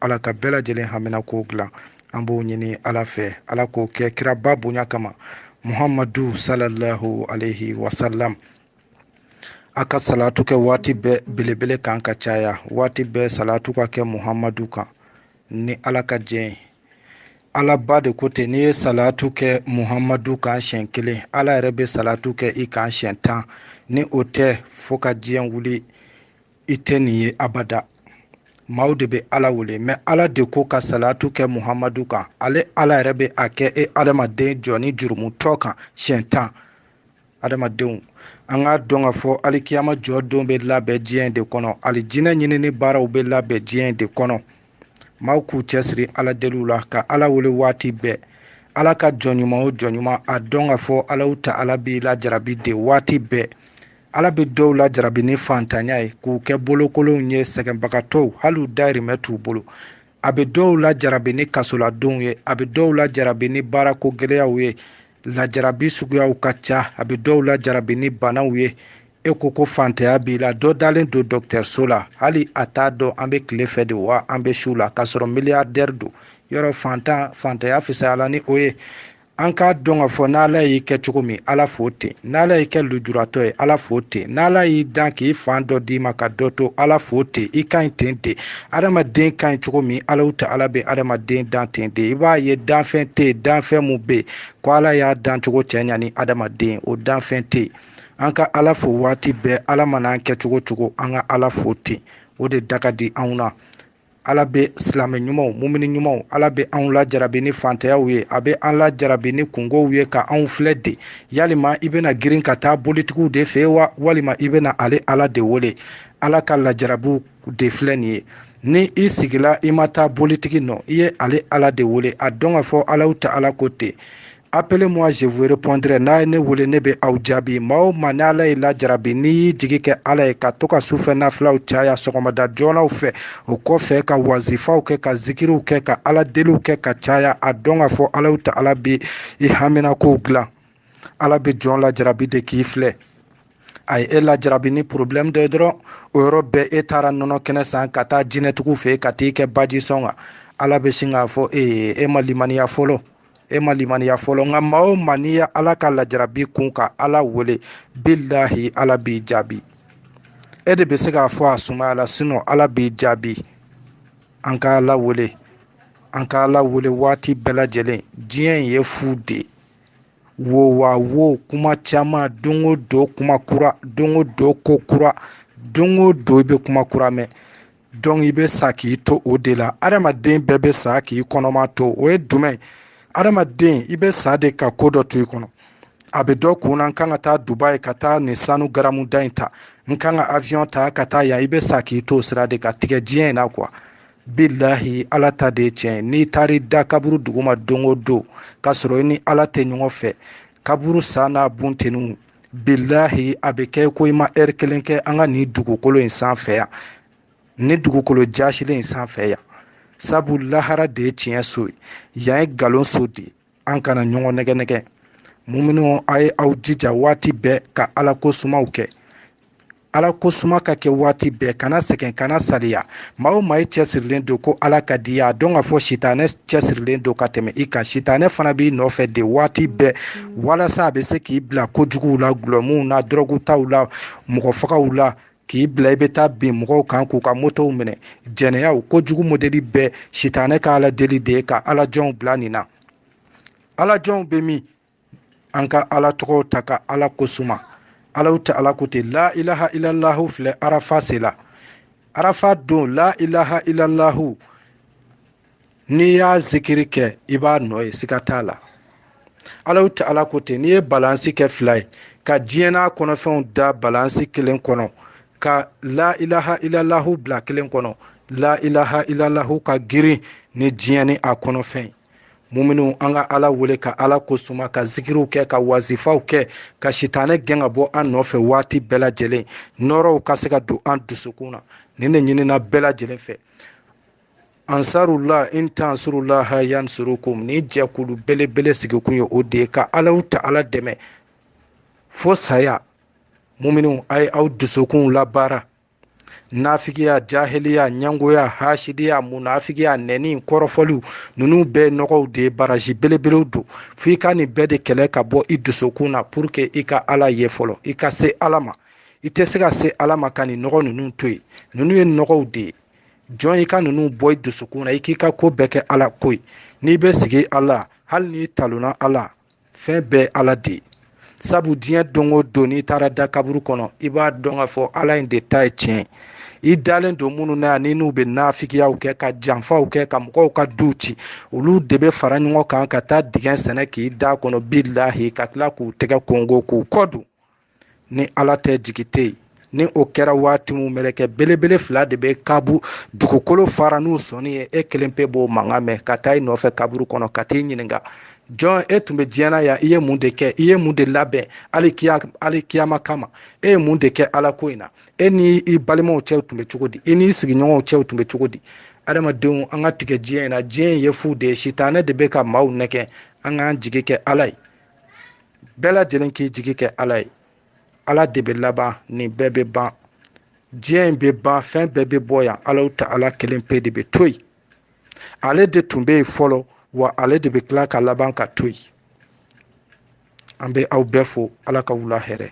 ala ka bɛɛ lajɛlen haminako dilan an b'o ɲini ala fɛ ala k'o kɛ kiraba bonya kama muhamadu salallahu alaihi wasalam a ka salatu kɛ waati bɛɛ belebele kan ka caya waati bɛɛ salatu ka kɛ muhamadu kan ni ala ka jɛ ye ala ba de ko ten n'i ye salatu kɛ muhamadu kan siɲɛ kelen ala yɛrɛ bɛ salatu kɛ i kan siɲɛ tan ni o tɛ fo ka diɲɛ wuli i tɛ nin ye abada maaw de bɛ ala wele mɛ ala de ko ka salatu kɛ muhamadu kan ale ala yɛrɛ bɛ a kɛ e adamaden jɔnnin jurumutɔ kan siɲɛ tan adamadenw an k'a dɔn ka fɔ alikiyama jɔdon bɛ labɛn diɲɛ de kɔnɔ alijinɛ ɲinini baaraw bɛ labɛn diɲɛ de kɔnɔ maaw k'u cɛsiri ala deliw la ka ala wele waati bɛɛ ala ka jɔn ɲuman o jɔn ɲuman a dɔn ka fɔ alahu taala b'i lajarabi de waati bɛɛ ala bɛ dɔw lajarabi ni fantanya ye k'u kɛ bolokolonw ye sɛgɛnbagatɔw hali u dayirimɛ t'u bolo a bɛ dɔw lajarabi ni kasoladonw ye a bɛ dɔw lajarabi ni baarako gɛlɛyaw ye lajarabi suguyaw ka ca a bɛ dɔw lajarabi ni banaw ye e ko ko fantanya b'i la dɔ dalen don dɔgɔtɔrɔso la hali a t'a dɔn an bɛ tile fɛ de wa an bɛ su la k'a sɔrɔ miliyardɛri don yɔrɔ fantan fantanya fisayala ni o ye an k'a dɔn k'a fɔ n'ala y'i kɛ cogo min ala fo ten n'ala y'i kɛ lujuratɔ ye ala fo ten n'ala y'i dan k'i fan dɔ d'i ma ka dɔ to ala fo ten i ka ɲi ten ten adamaden ka ɲi cogo min alahu taala bɛ adamaden dan ten de i b'a ye danfɛn tɛ yen danfɛn mun bɛ yen ko ala y'a dan cogo cɛɲa ni adamaden o danfɛn tɛ yen an ka ala fo waati bɛɛ ala mana an kɛ cogo cogo an ka ala fo ten o de da ka di anw na ala bɛ silamɛ ɲumanw mumini ɲumanw ala bɛ anw lajarabi ni fantayaw ye a bɛ an lajarabi ni kunkow ye ka anw filɛ de yalima i bɛna girin ka taa bolitigiw de fɛ wa walima i bɛna ale ala de wele ala ka lajarabiw de filɛ nin ye ni i sigila i ma taa bolitigi nɔ i ye ale ala de wele a dɔn ka fɔ alahu taala ko ten appelez-moi je vous répondrai n'a ye ne wele ne bɛ aw jaabi maa o maa ni ala y'i lajarabi n'i y'i jigi kɛ ala ye ka to ka sufɛ nafilaw caya sɔgɔmada joonaw fɛ o kɔfɛ ka wazifaw kɛ ka zikiriw kɛ ka ala deliw kɛ ka caya a dɔn ka fɔ alahu taala bɛ i haminakow dilan ala bɛ jɔn lajarabi de k'i filɛ a ye e lajarabi ni problème dɔ ye dɔrɔn o yɔrɔ bɛɛ e taara nɔnɔ kɛnɛ san ka taa jinɛtigiw fɛ ka t'i kɛ baji sɔn kan ala bɛ sin k'a fɔ e ye e ma limaniya fɔlɔ e ma limaniya fɔlɔ nka maa o maa n'i ye ala ka lajarabi kun ka ala wele bilahi ala b'i jaabi e de bɛ se k'a fɔ a sumayala sinon ala b'i jaabi an ka ala wele an ka ala wele waati bɛɛ lajɛlen diɲɛ in ye fu de ye wo wa wo kuma caman don o don kuma kura don o don ko kura don o don i bɛ kuma kura mɛn donc i bɛ sa k'i to o de la adamaden bɛɛ bɛ sa k'i kɔnɔma to o ye jumɛn adamaden i bɛ sa de ka ko dɔ to i kɔnɔ a bɛ dɔ kun na n kan ka taa dubai ka taa nin sanu garamu da in ta n kan ka avion ta ka taa yan i bɛ sa k'i to o sira de ka tigɛ diɲɛ in na quoi bilahi ala ta de ye tiɲɛ n'i taar'i da kaburu duguma don o don k'a sɔrɔ i ni ala tɛ ɲɔgɔn fɛ kaburu sa n'a bunteniw bilahi a bɛ kɛ ko i ma heure kelen kɛ an ka nin dugukolo in sanfɛ yan ni dugukolo jasilen in sanfɛ yan sabu lahara de ye tiɲɛ so ye yan ye nkalon so de ye an kana ɲɔgɔn nɛgɛ nɛgɛ muminw a ye aw jija waati bɛɛ ka ala ko sumaw kɛ ala ko suma ka kɛ waati bɛɛ kana sɛgɛn kana saliya maa o maa i cɛsirilen don ko ala ka di i ye a dɔn k'a fɔ sitanɛ cɛsirilen don ka tɛmɛ i kan sitanɛ fana b'i nɔfɛ de waati bɛɛ walasa a bɛ se k'i bila kojuguw la gulɔmuw na dɔrɔgutaw la mɔgɔ fagaw la k'i bila i bɛ taa bin mɔgɔw kan k'u ka motow minɛ jɛnɛyaw kojugu modeli bɛɛ sitanɛ ka ala deli de ye ka ala jɔnw bila nin na ala jɔnw bɛ min an ka ala tɔgɔw ta ka ala ko suma alahu ta ala ko ten la ilaha illallahu filɛ arafa sela arafa don la ilaha illallahu n'i y'a zikiri kɛ i b'a nɔ ye siga t'a la alahu ta ala ko ten n'i ye balansi kɛ fila ye ka diɲɛ n'a kɔnɔfɛnw da balansi kelen kɔnɔ ka la ilaha ilalahu bila kelen kɔnɔ la ilaha ilalahu ka girin ni diɲɛ ni a kɔnɔfɛn muminu an ka ala wele ka ala ko suma ka zikiriw kɛ ka wazifaw kɛ ka sitanɛ gɛn ka bɔ an nɔfɛ waati bɛɛ lajɛlen nɔrɔw ka se ka don an dusukun na nin de ɲinina bɛɛ lajɛlen fɛ ansarula in tansurulaha yansurukum ni jɛkulu belebele sigikun ye o de ye ka alahu ta ala dɛmɛ fo saya muminu a ye aw dusukunw labaara nafigiya jahiliya ɲangoya hasidiya munafigiya nɛni kɔrɔfɔliw ninnu bɛɛ nɔgɔw de ye barrage belebelew don fo i ka nin bɛɛ de kɛlɛ ka bɔ i dusukun na pour que i ka ala ye fɔlɔ i ka se ala ma i tɛ se ka se ala ma ka nin nɔgɔ ninnu to yen ninnu ye nɔgɔw de ye jɔn i ka ninnu bɔ i dusukun na i k'i ka ko bɛɛ kɛ ala ko ye n'i bɛ sigi ala hali n'i talonna ala fɛn bɛɛ ala de ye sabu diɲɛ don o don n'i taara da kaburu kɔnɔ i b'a dɔn k'a fɔ ala in de ta ye tiɲɛ i dalen don minnu na yan ni n'u bɛ nafigiyaw kɛ ka janfaw kɛ ka mɔgɔw ka duw ci olu de bɛ fara ɲɔgɔn kan ka taa dingɛ sɛnɛ k'i da kɔnɔ bilahi ka tila k'u tɛgɛ kɔnkɔn k'u kɔ don ni ala tɛ jigi tɛ yen ni o kɛra waati min mɛlɛkɛ belebele fila de bɛ kaburu dugukolo fara n'u sɔnin ye e kelen pe b'o mankan mɛn ka taa i nɔfɛ kaburu kɔnɔ ka t'i ɲininka jɔn e tun bɛ diɲɛ na yan i ye mun de kɛ i ye mun de labɛn alikiya alikiyama kama e ye mun de kɛ ala ko in na e ni i balimaw cɛw tun bɛ cogo di i n'i sigiɲɔgɔnw cɛw tun bɛ cogo di adamadenw an ka tigɛ diɲɛ in na diɲɛ in ye fu de ye sitanɛ de bɛ ka maaw nɛgɛ an k'an jigi kɛ ala ye bɛɛ lajɛlen k'i jigi kɛ ala ye ala de bɛ laban nin bɛɛ bɛ ban diɲɛ in bɛ ban fɛn bɛɛ bɛ bɔ yan alahu taala kelen pe de bɛ to yen ale de tun bɛ yen fɔlɔ wa ale de bɛ tila ka laban ka to yen an bɛ aw bɛɛ fo ala ka wula hɛrɛ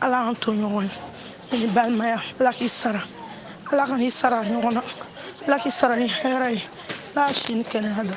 ala y'an to ɲɔgɔn ye ni balimaya ala k'i sara ala ka n'i sara ɲɔgɔn na ala k'i sara ni hɛrɛ ye ala si ni kɛnɛya da